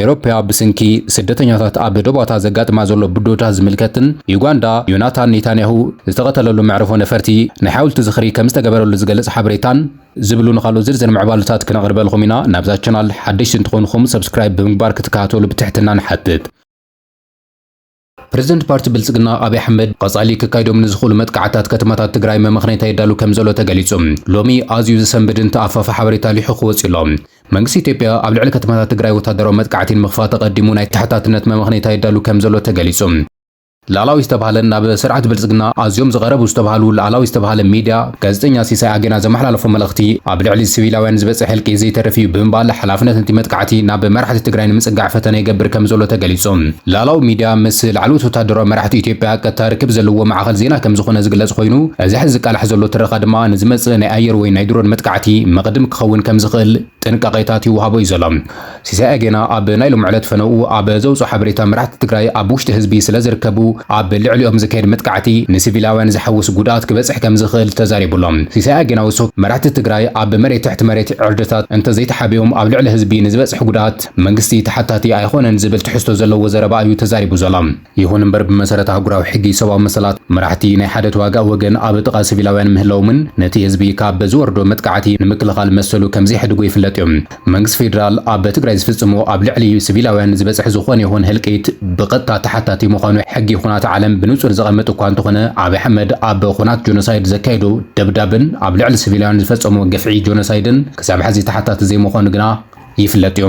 ኤሮፓ ብስንኪ ስደተኛታት ኣብ ዶባታ ዘጋጥማ ዘሎ ብድሆታት ዝምልከትን ዩጋንዳ ዮናታን ኔታንያሁ ዝተቐተለሉ መዕርፎ ነፈርቲ ናይ ሓውልቲ ዝኽሪ ከም ዝተገበረሉ ዝገልጽ ሓበሬታን ዝብሉ ንካልኦት ዝርዝር ምዕባሉታት ክነቕርበልኹም ኢና። ናብዛ ቻናል ሓደሽቲ እንትኾንኹም ሰብስክራይብ ብምግባር ክትከታተሉ ብትሕትና ንሓትት። ፕረዚደንት ፓርቲ ብልፅግና ኣብይ ኣሕመድ ቐፃሊ ክካይዶም ንዝኽእሉ መጥቃዕትታት ከተማታት ትግራይ መመኽነይታ የዳሉ ከምዘሎ ተገሊፁ። ሎሚ ኣዝዩ ዝሰንብድን ተኣፋፊ ሓበሬታ ሊሑኹ ወፂኡ ኣሎ። መንግስቲ ኢትዮጵያ ኣብ ልዕሊ ከተማታት ትግራይ ወታደራዊ መጥቃዕቲ ንምኽፋት ኣቐዲሙ ናይ ተሓታትነት መመኽነይታ የዳሉ ከምዘሎ ተገሊፁ። ላእላዊ ዝተብሃለን ናብ ስርዓት ብልፅግና ኣዝዮም ዝቐረቡ ዝተብሃሉ ላእላዊ ዝተብሃለ ሚድያ፣ ጋዜጠኛ ሲሳይ ኣገና ዘመሓላለፎ መልእኽቲ ኣብ ልዕሊ ስቪላውያን ዝበፅሕ ህልቂት ዘይተርፍ እዩ ብምባል ሓላፍነት ነቲ መጥቃዕቲ ናብ መራሕቲ ትግራይ ንምፅጋዕ ፈተነ ይገብር ከምዘሎ ተገሊፁ። ላእላዊ ሚድያ ምስ ላዕለዎት ወተሃደራዊ መራሕቲ ኢትዮጵያ ቀጥታ ርክብ ዘለዎ ማዕኸን ዜና ከምዝኾነ ዝግለፅ ኾይኑ እዚ ሐዚ ዝቃላሕ ዘሎ ትረኻ ድማ ንዝመፅእ ናይ ኣየር ወይ ናይ ድሮን መጥቃዕቲ መቕድም ክኸውን ከምዝኽእል ጥንቃቄታት ይወሃቦ እዩ ዘሎ። ሲሳይ ኣጌና ኣብ ናይ ሎሚ ዕለት ፈነውኡ ኣብ ዘውጽኦ ሓበሬታ መራሕቲ ትግራይ ኣብ ውሽጢ ህዝቢ ስለ ዝርከቡ ኣብ ልዕሊኦም ዝካየድ መጥቃዕቲ ንሲቪላውያን ዝሓውስ ጉድኣት ክበጽሕ ከም ዝኽእል ተዛሪቡ ኣሎ። ሲሳይ ኣጌና ወሲኹ መራሕቲ ትግራይ ኣብ መሬት ትሕቲ መሬት ዕርድታት እንተዘይተሓቢኦም ኣብ ልዕሊ ህዝቢ ንዝበጽሕ ጉድኣት መንግስቲ ተሓታቲ ኣይኾነን ዝብል ትሕዝቶ ዘለዎ ዘረባ እዩ ተዛሪቡ ዘሎ። ይኹን እምበር ብመሰረት ኣህጉራዊ ሕጊ ሰብኣዊ መሰላት፣ መራሕቲ ናይ ሓደ ተዋጋኢ ወገን ኣብ ጥቓ ሲቪላውያን ምህላዎምን ነቲ ህዝቢ ካብ ዝወርዶ መጥቃዕቲ ንምክልኻል መሰሉ ከምዘይሕድጎ ይፍለጥ እዩ። መንግስቲ ፌደራል ኣብ ትግራይ ዝፍጽሞ ኣብ ልዕሊ ሲቪላውያን ዝበጽሕ ዝኾነ ይኹን ህልቂት ብቐጥታ ተሓታቲ ምዃኑ ሕጊ ኹናት ዓለም ብንጹር ዘቐምጥ እኳ እንተኾነ ኣብይ ኣሕመድ ኣብ ኹናት ጆኖሳይድ ዘካየዶ ደብዳብን ኣብ ልዕሊ ሲቪላውያን ዝፈጸሞ ግፍዒ ጆኖሳይድን ክሳብ ሕዚ ተሓታቲ ዘይምዃኑ ግና ይፍለጥ እዩ።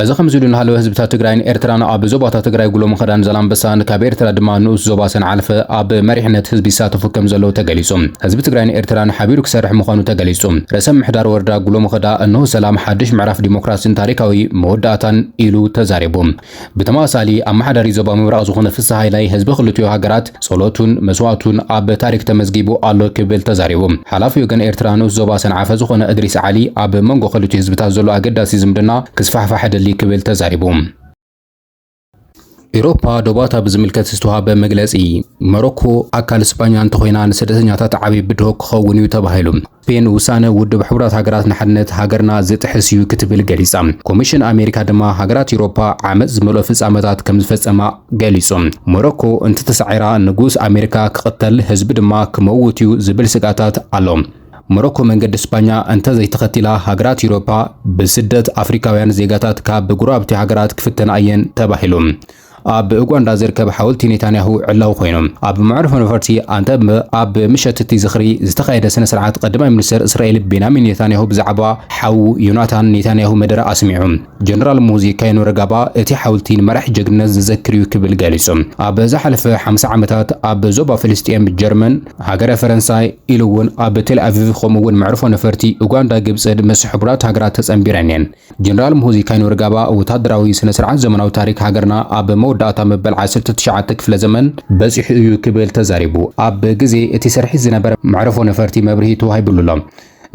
እዚ ከምዚ ኢሉ እናሃለወ ህዝብታት ትግራይን ኤርትራን ኣብ ዞባታት ትግራይ ጉሎ መኸዳን ዛላምበሳን ካብ ኤርትራ ድማ ንኡስ ዞባ ሰንዓፈ ኣብ መሪሕነት ህዝቢ ይሳተፉ ከምዘለዉ ተገሊፁ። ህዝቢ ትግራይን ኤርትራን ሓቢሩ ክሰርሕ ምዃኑ ተገሊፁ። ርእሰ ምምሕዳር ወረዳ ጉሎ መኸዳ እነሆ ሰላም፣ ሓዱሽ ምዕራፍ ዲሞክራሲን ታሪካዊ መወዳእታን ኢሉ ተዛሪቡ። ብተመሳሳሊ ኣመሓዳሪ ዞባ ምብራቕ ዝኾነ ፍስሃ ሃይላይ ህዝቢ ክልቲኡ ሃገራት፣ ጸሎቱን መስዋእቱን ኣብ ታሪኽ ተመዝጊቡ ኣሎ ክብል ተዛሪቡ። ሓላፊ ወገን ኤርትራ ንኡስ ዞባ ሰንዓፈ ዝኾነ እድሪስ ዓሊ፣ ኣብ መንጎ ክልቲኡ ህዝብታት ዘሎ ኣገዳሲ ዝምድና ክስፋሕፋሕ እደሊ ክብል ተዛሪቡ። ኤውሮፓ ዶባታ ብዝምልከት ዝተዋህበ መግለጺ፣ መሮኮ ኣካል ስጳኛ እንተኾይና ንስደተኛታት ዓቢ ብድሆ ክኸውን'ዩ ተባሂሉ። ፔን ውሳነ ውድብ ሕቡራት ሃገራት ንሓድነት ሃገርና ዝጥሕስ እዩ ክትብል ገሊጻ። ኮሚሽን ኣሜሪካ ድማ ሃገራት ኤውሮፓ ዓመጽ ዝመልኦ ፍጻመታት ከም ዝፈጸማ ገሊጹ። ሞሮኮ እንተተሳዒራ ንጉስ ኣሜሪካ ክቕተል ህዝቢ ድማ ክመውት እዩ ዝብል ስግኣታት ኣሎ። ሞሮኮ መንገዲ ስፓኛ እንተዘይተኸቲላ ሃገራት ኤውሮፓ ብስደት ኣፍሪካውያን ዜጋታት ካብ ጎረባብቲ ሃገራት ክፍተና እየን ተባሂሉ። ኣብ ኡጋንዳ ዝርከብ ሓወልቲ ኔታንያሁ ዕላዊ ኮይኑ፣ ኣብ መዕርፎ ነፈርቲ ኣንተበ ኣብ ምሸት'ቲ ዝኽሪ ዝተኻየደ ስነ-ስርዓት ቐዳማይ ሚኒስተር እስራኤል ቤንያሚን ኔታንያሁ ብዛዕባ ሓዉ ዮናታን ኔታንያሁ መደረ ኣስሚዑ። ጀነራል ሙሁዚ ካይኑረጋባ እቲ ሓውልቲ ንመራሒ ጀግንነት ዝዘክር'ዩ ክብል ገሊጹ። ኣብ ዝሓለፈ ሓምሳ ዓመታት ኣብ ዞባ ፍልስጤም፣ ጀርመን፣ ሃገረ ፈረንሳይ ኢሉ'ውን ኣብ ቴልኣቪቭ ከምኡ'ውን መዕርፎ ነፈርቲ ኡጋንዳ ግብጽን ምስ ሕቡራት ሃገራት ተጸንቢረን'የን። ጀነራል ሙሁዚ ካይነወርጋባ ወታደራዊ ስነ ስርዓት ዘመናዊ ታሪክ ሃገርና ኣብ መወዳእታ መበል ዓሰርተ ትሽዓተ ክፍለ ዘመን በጺሑ እዩ ክብል ተዛሪቡ። ኣብ ግዜ እቲ ስርሒት ዝነበረ መዕርፎ ነፈርቲ መብርሂ ተዋሂብሉ ኣሎ።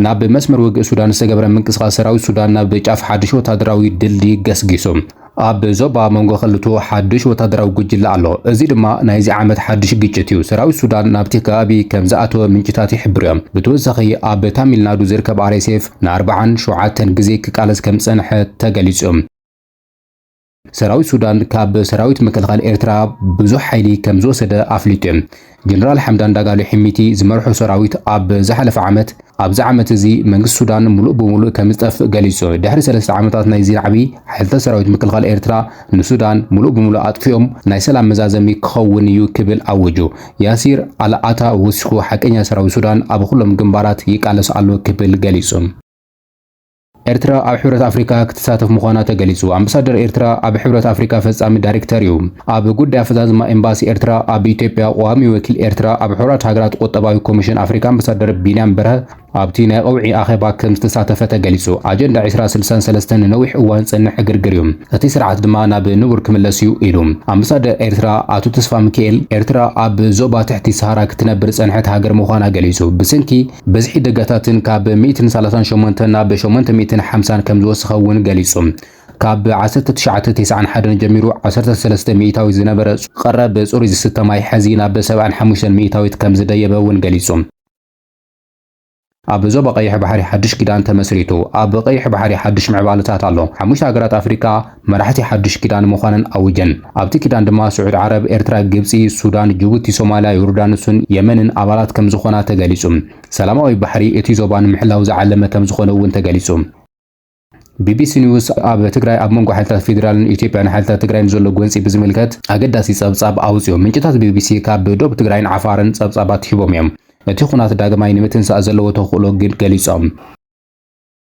ናብ መስመር ውግእ ሱዳን ዝተገበረ ምንቅስቓስ ሰራዊት ሱዳን ናብ ጫፍ ሓድሽ ወታደራዊ ድልድይ ገስጊሱ። ኣብ ዞባ መንጎ ክልቱ ሓድሽ ወታደራዊ ጉጅለ ኣሎ፣ እዚ ድማ ናይዚ ዓመት ሓድሽ ግጭት እዩ። ሰራዊት ሱዳን ናብቲ ከባቢ ከም ዝኣተወ ምንጭታት ይሕብሩ እዮም። ብተወሳኺ ኣብ ታሚል ናዱ ዝርከብ ኣርኤስኤፍ ንኣርብዓን ሸውዓተን ግዜ ክቃለስ ከም ዝጸንሐ ተገሊጹ። ሰራዊት ሱዳን ካብ ሰራዊት ምክልኻል ኤርትራ ብዙሕ ሓይሊ ከም ዝወሰደ ኣፍሊጡ እዩ። ጀነራል ሓምዳን ዳጋሎ ሒሚቲ ዝመርሖ ሰራዊት ኣብ ዝሓለፈ ዓመት ኣብዚ ዓመት እዚ መንግስቲ ሱዳን ሙሉእ ብሙሉእ ከም ዝጠፍእ ገሊጹ። ድሕሪ ሰለስተ ዓመታት ናይዚ ናዕቢ፣ ሓይልታት ሰራዊት ምክልኻል ኤርትራ ንሱዳን ሙሉእ ብሙሉእ ኣጥፊኦም ናይ ሰላም መዛዘሚ ክኸውን እዩ ክብል ኣወጁ። ያሲር ኣል ኣታ ወሲኹ ሓቀኛ ሰራዊት ሱዳን ኣብ ኹሎም ግንባራት ይቃለስ ኣሎ ክብል ገሊጹ። ኤርትራ ኣብ ሕብረት ኣፍሪካ ክትሳተፍ ምዃና ተገሊጹ። ኣምበሳደር ኤርትራ ኣብ ሕብረት ኣፍሪካ ፈጻሚ ዳይሬክተር እዩ። ኣብ ጉዳይ ኣፈጻጽማ ኤምባሲ ኤርትራ ኣብ ኢትዮጵያ ቋሚ ወኪል ኤርትራ ኣብ ሕቡራት ሃገራት ቁጠባዊ ኮሚሽን ኣፍሪካ ኣምበሳደር ቢንያም በርሀ ኣብቲ ናይ ቐውዒ ኣኼባ ከም ዝተሳተፈ ተገሊጹ። ኣጀንዳ ዕስራ ስልሳን ሰለስተን ንነዊሕ እዋን ዝጸንሕ ዕግርግር እዩ፣ እቲ ስርዓት ድማ ናብ ንቡር ክምለስ እዩ ኢሉ ኣምበሳደር ኤርትራ ኣቶ ተስፋሚካኤል። ኤርትራ ኣብ ዞባ ትሕቲ ሰሃራ ክትነብር ዝጸንሐት ሃገር ምዃና ገሊጹ። ብሰንኪ። ብዝሒ ደጋታትን ካብ ሚእትን ሳላሳን ሸሞንተን ናብ ሸሞንተ ሚእትን ሓምሳን ከም ዝወሰኸ እውን ገሊጹ። ካብ ዓሰርተ ትሽዓተ ተስዓን ሓደን ጀሚሩ ዓሰርተ ሰለስተ ሚእታዊት ዝነበረ ቀረብ ጽሩይ ዝስተ ማይ ሕዚ ናብ ሰብዓን ሓሙሽተን ሚእታዊት ከም ዝደየበ እውን ገሊጹ። ኣብ ዞባ ቀይሕ ባሕሪ ሓድሽ ኪዳን ተመስሪቱ። ኣብ ቀይሕ ባሕሪ ሓድሽ ምዕባለታት ኣሎ። ሓሙሽተ ሃገራት ኣፍሪቃ፣ መራሕቲ ሓዱሽ ኪዳን ምዃነን ኣዊጀን። ኣብቲ ኪዳን ድማ ስዑድ ዓረብ፣ ኤርትራ፣ ግብጺ፣ ሱዳን፣ ጅቡቲ፣ ሶማልያ፣ ዮርዳኖስን የመንን ኣባላት ከም ዝኾና ተገሊጹ። ሰላማዊ ባሕሪ እቲ ዞባ ንምሕላው ዝዓለመ ከም ዝኾነ እውን ተገሊጹ። ቢቢሲ ኒውስ ኣብ ትግራይ ኣብ መንጎ ሓይልታት ፌዴራልን ኢትዮጵያን ሓይልታት ትግራይን ዘሎ ጎንጺ ብዝምልከት ኣገዳሲ ጸብጻብ ኣውጺኡ። ምንጭታት ቢቢሲ ካብ ዶብ ትግራይን ዓፋርን ጸብጻባት ሂቦም እዮም። እቲ ኹናት ዳግማይ ንምትንሳእ ዘለዎ ተኽእሎ ግን ገሊጾም።